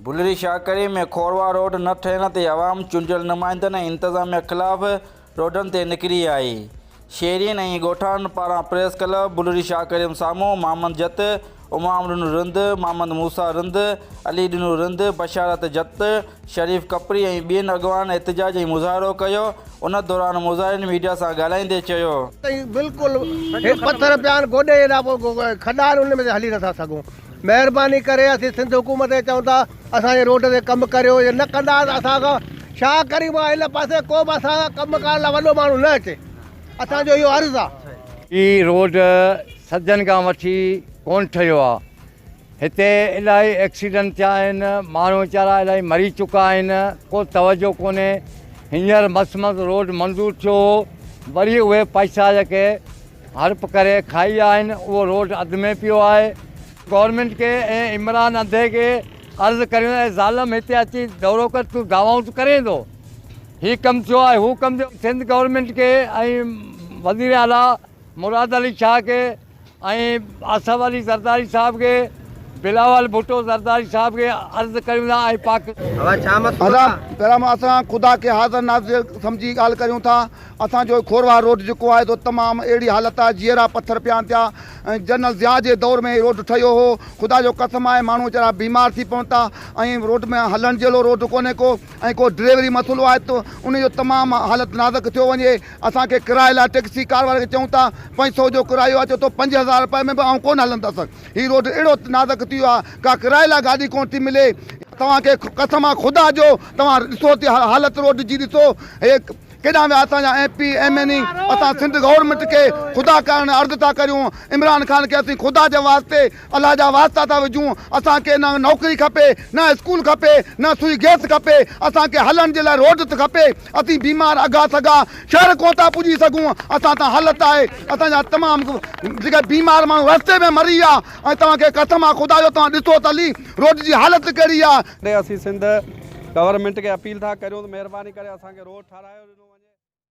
بلري شاهڪري ۾ کوروا road نه ٺهڻ تي عوام چونڊيل نمائندن ۽ انتظاميا خلاف روڊن تي نڪري آئي. شهرين ۽ ڳوٺاڻن پاران پريس ڪلب بلري شاهڪريم سامهون محمد جت، امام ڏنو رند، محمد موسيٰ رند، علي ڏنو رند، بشارت جت، شريف ڪپري ۽ ٻين اڳواڻن احتجاج ۽ مظاهرو ڪيو، ان دوران مظاهرين ميڊيا سان ڳالهائيندي چيو. تائين بلڪل هي پٿر پيا آهن گوڏي جيڏا کڏا آهن ان ۾ اسين هلي نٿا سگهون مهرباني ڪري اسين سنڌ حڪومت کي چئون ٿا اسان جي روڊ تي ڪم ڪريو جي نه ڪندا ته اسان کان شاهه ڪريم کان هن پاسي ڪو به اسان کان ڪم ڪرڻ لاء وڏو ماڻهو نه اچي. اسان جو اهو عرض آ. هي روڊ صدين کان وٺي ڪون ٺهيو آ. هتي الائي ايڪسيڊنٽ ٿيا آهن. ماڻهو ويچارا الائي مري چڪا آهن. ڪو توجه ڪونهي. هينئر مس مس روڊ منظور ٿيو هو. وري اهي پئسا جيڪي هڙپ ڪري کائي آهن اهو روڊ اڌ ۾ پيو آهي. گورنمينٽ کي ۽ عمران انڌي کي عرض ڪريون اي ظالم هتي اچي دورو ڪر تون دعوائون ته ڪرين ٿو هي ڪم ٿيو آهي هو ڪم ٿيو سنڌ گورنمينٽ کي ۽ وزير اعليٰ مراد علي شاهه کي ۽ آصف علي زرداري صاحب کي بلاول ڀٽو زرداري صاحب کي عرض ڪريون ٿا ۽ پاڪ ادا پيرام اسان خدا کي حاضر ناظر سمجهي ڳالهه ڪريون ٿا اسان جو کورواهه روڊ جيڪو آهي سو تمام اهڙي حالت آهي جيئرا پٿر پيان ٿيا ۽ جنرل ضياء جي دور ۾ هي روڊ ٺهيو هو خدا جو قسم آهي ماڻهو ويچارا بيمار ٿي پون ٿا ۽ روڊ ۾ هلڻ جهڙو روڊ ڪونهي ڪو ۽ ڪو ڊريوري مسئلو آهي ته ان جو تمام حالت نازڪ ٿيو وڃي. اسان کي ڪرائي لاء ٽئڪسي ڪار واري کي چئون ٿا پنج سئو جو ڪرايو آهي چئي ٿو پنج هزار رپئي ۾ به آئون ڪونه هلندس. هي روڊ اهڙو نازڪ ٿي ويو آهي ڪا ڪرائي لاء گاڏي ڪونه ٿي ملي. توهان کي قسم آهي خدا جو توهان ڏسو ته حالت روڊ جي ڏسو هي ڪيڏانهن ويا اسان جا M P M N A اسان سنڌ گورنمينٽ کي خدا ڪرڻ عرض ٿا ڪريون عمران خان کي اسين خدا جي واسطي الله جا واسطا ٿا وجهون اسان کي نه نوڪري کپي نه اسڪول کپي نه سوئي گيس کپي اسان کي هلڻ جي لاء روڊ ٿي کپي اسين بيمار اگها سگها شهر ڪونه ٿا پڄي سگهون اسان تان حالت آهي اسان جا تمام جيڪي بيمار ماڻهو رستي ۾ مري ويا ۽ توهان کي قسم آهي خدا جو توهان ڏسو ته علي روڊ جي حالت ڪهڙي آهي. اسين سنڌ گورنمينٽ کي اپيل ٿا ڪريون ته مهرباني ڪري اسان کي روڊ ٺاراهيو ڏنو وڃي.